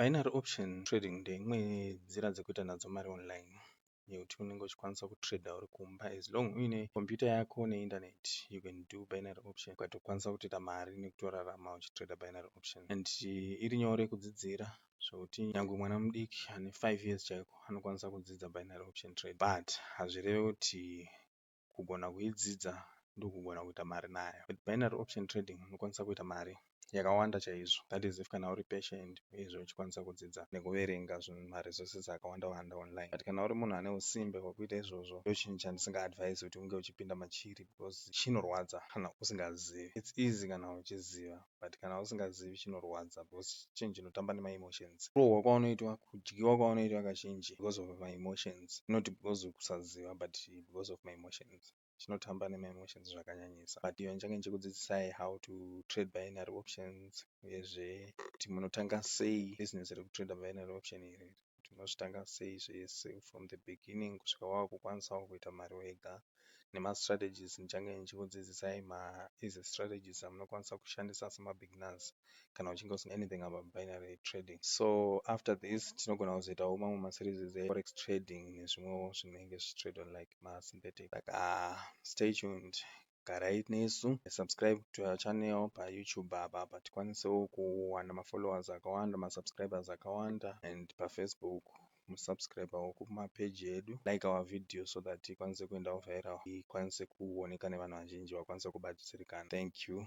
Binary option trading ndeimwe yenzira dzekuita nadzo mari online yekuti unenge uchikwanisa kutrader uri kumba as long uine computer yako neinternet you can do binary option ukatokwanisa kutoita mari nekutorarama uchitrader binary option and iri nyore kudzidzira zvekuti nyangwe mwana mudiki ane 5 years chaiko anokwanisa kudzidza binary option trade but hazvireve kuti kugona kuidzidza ndokugona kuita mari nayo. With binary option trading unokwanisa kuita mari yakawanda chaizvo that is if kana uri patient uyezve uchikwanisa kudzidza nekuverenga zvinhu ma resources akawanda wanda online but kana uri munhu ane usimbe hwekuita izvozvo ndochinhu chandisinga advise kuti unge uchipinda machiri because chinorwadza kana usingazivi. It's easy kana uchiziva. but kana usingazivi chinorwadza because chinhu chinotamba nema emotions. Kurohwa kwaunoitwa, kudyiwa kwaunoitwa kazhinji because of ma emotions not because kusaziva but because of ma emotions. Chinotamba nema emotions zvakanyanyisa but even change ndichikudzidzisai how to trade binary options uyezve kuti munotanga sei business reku trader binary option iri. kuti unozvitanga sei zvese from the beginning kusvika wakukwanisawo kuita mari wega nemastrategies ndichange ndichikudzidzisai maeasy strategies amunokwanisa kushandisa semabeginners kana uchinge usina anything about binary trading so after this tinogona kuzoitawo mamwe maseries eforex trading nezvimwewo zvinenge zvichitradwa like masynthetic saka stay tuned garai nesu subscribe to our channel pa YouTube apa apa tikwanisewo kuwana ma followers akawanda ma subscribers akawanda and pa Facebook mu subscribewo kuma page edu like our video so that ikwanise kuendawo viral ikwanise kuoneka nevanhu vazhinji vakwanise kubatsirikana thank you